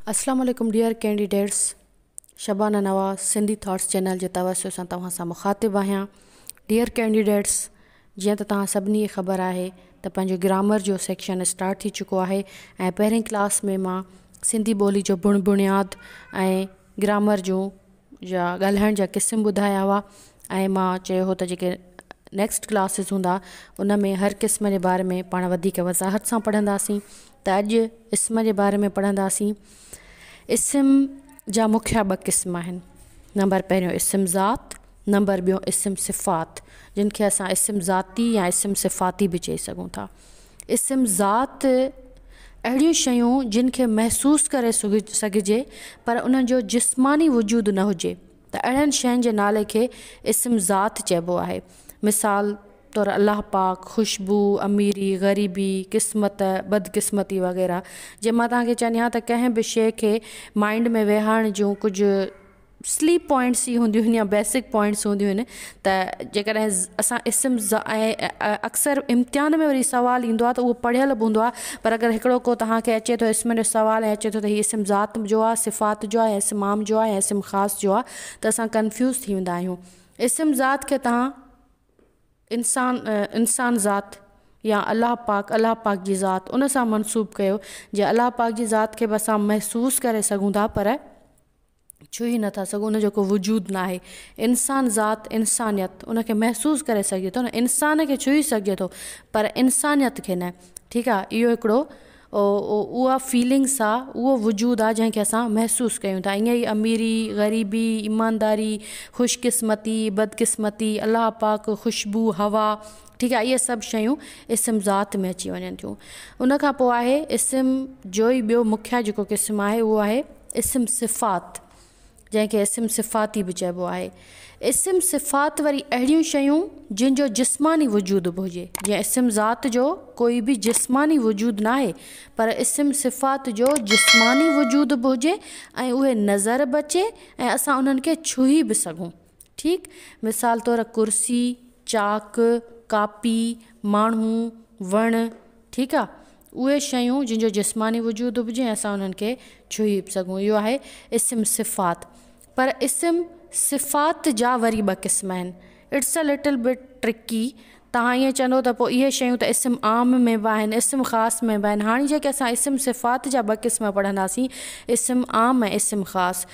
اسلام عليڪم dear candidates Shabana Nawaz Sindhi thoughts channel جي توسط سان توهان سان مخاطب آهيان ڊيئر ڪينڊيڊيٽس جيئن ته توهان سڀني کي خبر آهي ته پنهنجو گرامر جو سيڪشن اسٽارٽ ٿي چڪو آهي ۽ پهرين ڪلاس ۾ مان سنڌي ٻولي جو بڻ بڻياد ۽ گرامر جون جا ڳالهائڻ جا قسم ٻڌايا هئا ۽ مان چيو هو ته جيڪي نيڪسٽ ڪلاسز هوندا ان ۾ هر قسم جي باري ۾ پاڻ وڌيڪ وضاحت سان پڙهنداسين ته اڄ اسم جي باري ۾ پڙهنداسين اسم جا مکيا ٻه قسم آهن نمبر پهريون اسم ذات نمبر ٻيو اسم صفات جن کي اسان اسم ذاتي يا اسم صفاتي به چئي سگهون ٿا اسم ذات اهڙيون شيون جن کي محسوس ڪري سگهجي پر انهن جو جسماني وجود نه هجي ته اهڙين شين جي نالي کي اسم ذات چئبو آهي مثال طور الله پاڪ، خوشبو، اميري، غريبي، قسمت، بدقسمتي وغيره جي مان توهان کي چوندي آهيان ته ڪنهن به شيء کي مائينڊ ۾ ويهارڻ جون ڪجهه سليپ پوائنٽس جي هونديون آهن يا بيسڪ پوائنٽس هونديون آهن ته جيڪڏهن اسان اسم ز ۽ اڪثر امتحان ۾ وري سوال ايندو آهي ته اهو پڙهيل به هوندو آهي پر اگر هڪڙو ڪو توهانکي اچي ٿو اسمن جو سوال ۽ اچي ٿو ته هي اسم ذات جو آهي صفات جو آهي اسم عام جو آهي اسم خاص جو آهي ته اسان ڪنفيوز ٿي ويندا آهيون اسم ذات کي توهان انسان انسان ذات يا الله پاڪ الله پاڪ جي ذات ان سان منسوب ڪيو جي الله پاڪ جي ذات کي به اسان محسوس ڪري سگهون ٿا پر ڇهي ئي نٿا سگهون ان جو ڪو وجود ناهي انسان ذات انسانيت ان کي محسوس ڪري سگهجي ٿو نه انسان کي ڇهي سگهجي ٿو پر انسانيت کي نه ٺيڪ آ اهو هڪڙو اها فيلنگس آ اهو وجود آ جنهن کي اسان محسوس ڪيون ٿا ائين ئي اميري غريبي ايمانداري خوش قسمتي بد قسمتي الله پاڪ خوشبو هوا ٺيڪ آ اهي سڀ شيون اسم ذات ۾ اچي وڃن ٿيون ان کان پوء آهي اسم جو ئي ٻيو مکيه جيڪو قسم آهي اهو آهي اسم صفات، جنهن کي اسم صفاتي به چئبو آهي. اسم صفات وري اهڙيون شيون جن جو جسماني وجود به هجي، جيئن اسم ذات جو ڪوئي به جسماني وجود ناهي پر اسم صفات جو جسماني وجود به هجي ۽ اهي نظر به اچي ۽ اسان انهن کي ڇهي به سگهون. ٺيڪ، مثال طور ڪرسي، چاڪ، ڪاپي، ماڻهو، وڻ، ٺيڪ آ، اهي شيون جن جو جسماني وجود هجي ۽ اسان انهن کي ڇهي به سگهون، اهو آهي اسم صفات. پر اسم صفات جا وري ٻه قسم آهن. It's a little bit tricky توهان ائين چوندئو ته پوء اهي شيون ته اسم عام ۾ به آهن اسم خاص ۾ به آهن. هاڻي جيڪي اسان اسم صفات جا ٻه قسم پڙهنداسين اسم عام ۽ اسم خاص.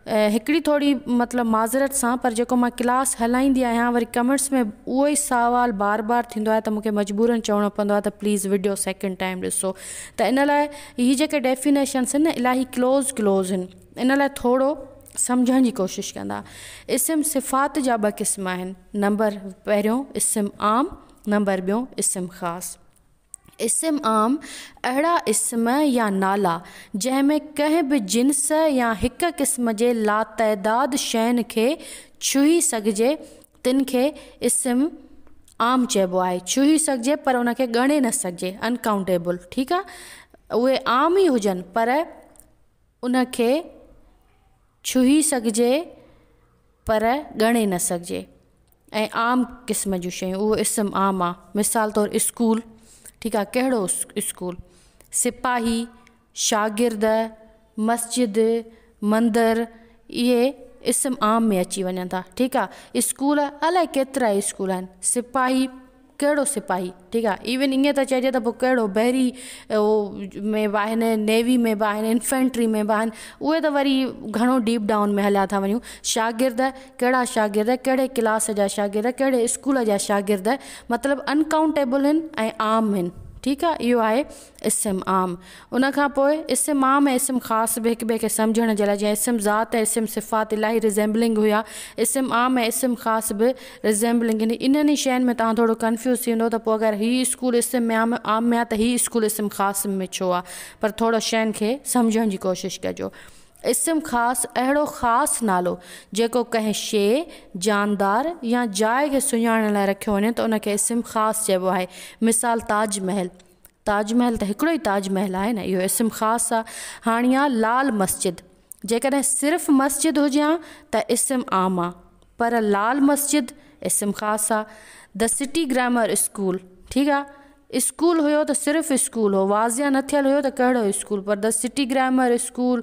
هڪڙي ٿوري مطلب معذرت سان پر جيڪو مان ڪلاس هلائيندي آهيان وري ڪمينٽس ۾ اهو ئي سوال بار بار ٿيندو آهي ته مون کي مجبورن چوڻو پوندو آهي ته پليز وڊيو سيڪنڊ ٽائيم ڏسو ته ان لاء هي جيڪي ڊيفينيشنس آهن نه الاهي ڪلوز ڪلوز آهن. ان لاء ٿورو سمجهڻ جي ڪوشش ڪندا. اسم صفات جا ٻه قسم آهن. نمبر پهريون اسم عام نمبر ٻيون اسم خاص. اسم عام اهڙا اسم يا نالا جنهن ۾ ڪنهن به جنس يا هڪ قسم جي لاتعداد شين کي ڇهي سگهجي تن کي اسم عام چئبو آهي. ڇهي سگهجي پر ان کي ڳڻي نه سگهجي Uncountable ٺيڪ آهي اهي عام ئي هجن پر ان کي ڇهي سگهجي پر ڳڻي نه سگهجي ۽ عام قسم جون شيون اهو اسم عام آ مثال طور اسڪول ٺيڪ آ ڪهڙو اسڪول سپاهي شاگرد مسجد مندر اهي اسم عام ۾ اچي وڃن ٿا ٺيڪ آ اسڪول الائي ڪيترائي اسڪول آهن سپاهي ڪهڙو سپاهي ٺيڪ آ ايون ايئن ته چئجي ته پوء ڪهڙو بحري او ۾ به آهن نيوي ۾ به آهن انفينٽري ۾ به آهن اهي ته وري گهڻو ڊيپ ڊائون ۾ هليا ٿا وڃون شاگرد ڪهڙا شاگرد ڪهڙي ڪلاس جا شاگرد ڪهڙي اسڪول جا شاگرد مطلب انڪائونٽيبل آهن ۽ عام آهن ٺيڪ آ اهو آهي اسم عام، ان کان پوء اسم عام ۽ اسم خاص به هڪ ٻئي کي سمجهڻ جي لاء جيئن اسم ذات ۽ اسم صفات الاهي ريزيمبلنگ هيا، اسم عام ۽ اسم خاص به ريزيمبلنگ هن انهن ئي شين ۾ توهان ٿورو ڪنفيوز ٿي ويندؤ ته پوء اگر هي اسڪول اسم عام عام ۾ آ ته هي اسڪول اسم خاص ۾ ڇو آ پر ٿورو شين کي سمجهڻ جي ڪوشش ڪجو اسم خاص اهڙو خاص نالو جيڪو ڪنهن شيء، جاندار يا جاء کي سڃاڻڻ لاء رکيو وڃي ته ان کي اسم خاص چئبو آهي مثال تاج محل. تاج محل ته هڪڙو ئي تاج محل آهي نه اهو اسم خاص آ هاڻي آ لال مسجد جيڪڏهن صرف مسجد هجي ها ته اسم عام آ پر لال مسجد اسم خاص آ The City Grammar School ٺيڪ آ اسڪول هيو ته صرف اسڪول هو واضع نه ٿيل هيو ته ڪهڙو اسڪول پر The City Grammar School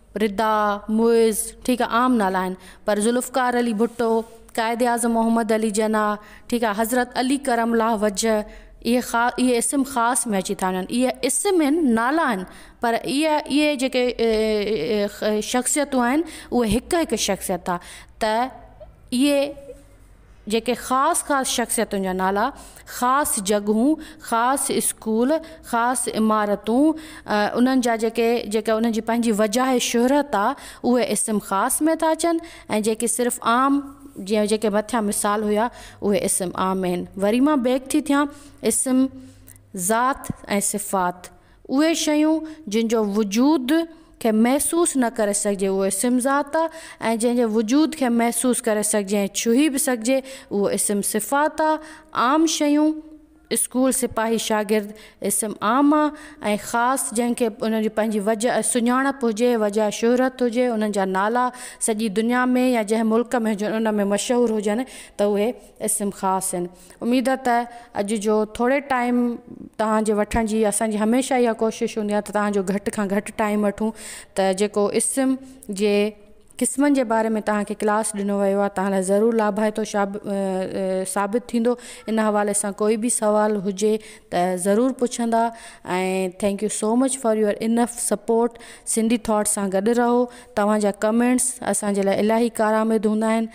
Rida, Muiz, ٺيڪ آ عام نالا آهن پر ذوالفقار علي ڀٽو، قائد اعظم محمد علي جناح، ٺيڪ آ حضرت علي ڪرم الله وجه اهي خا اهي اسم خاص ۾ اچي ٿا وڃن اهي اسم آهن نالا آهن پر اهي اهي جيڪي شخصيتون آهن اهي هڪ هڪ شخصيت آ ته اهي جيڪي خاص خاص شخصيتن جا نالا، خاص جڳهون، خاص اسڪول، خاص عمارتون، انهن جا جيڪي جيڪي انهن جي پنهنجي وجاهه شهرت آ اهي اسم خاص ۾ ٿا اچن ۽ جيڪي صرف عام جيئن جيڪي مٿيان مثال هيا اهي اسم عام ۾ آهن. وري مان بيڪ ٿي ٿيان اسم ذات ۽ صفات. اهي شيون جن جو وجود کي محسوس نه ڪري سگهجي اهو اسم ذات آ ۽ جنهن جي وجود کي محسوس ڪري سگهجي ۽ ڇهي به سگهجي اهو اسم صفات آ عام شيون اسڪول سپاهي شاگرد اسم عام آ ۽ خاص جنهن کي انهن جي پنهنجي وجه سڃاڻپ هجي وجه شهرت هجي انهن جا نالا سڄي دنيا ۾ يا جنهن ملڪ ۾ هجن ان ۾ مشهور هجن ته اهي اسم خاص آهن اميد ته اڄ جو ٿوري ٽائيم توهان جي وٺڻ جي اسان جي هميشه اها ڪوشش هوندي آهي ته توهان جو گهٽ کان گهٽ ٽائيم وٺون ته جيڪو اسم جي قسمن جي باري ۾ توهان کي ڪلاس ڏنو ويو آهي توهان لاء ضرور لاڀائتو ثابت ٿيندو ان حوالي سان ڪوئي به سوال هجي ته ضرور پڇندا ۽ thank you so much for your enough support Sindhi thought سان گڏ رهو توهان جا ڪمينٽس اسان جي لاء الاهي ڪارآمد هوندا آهن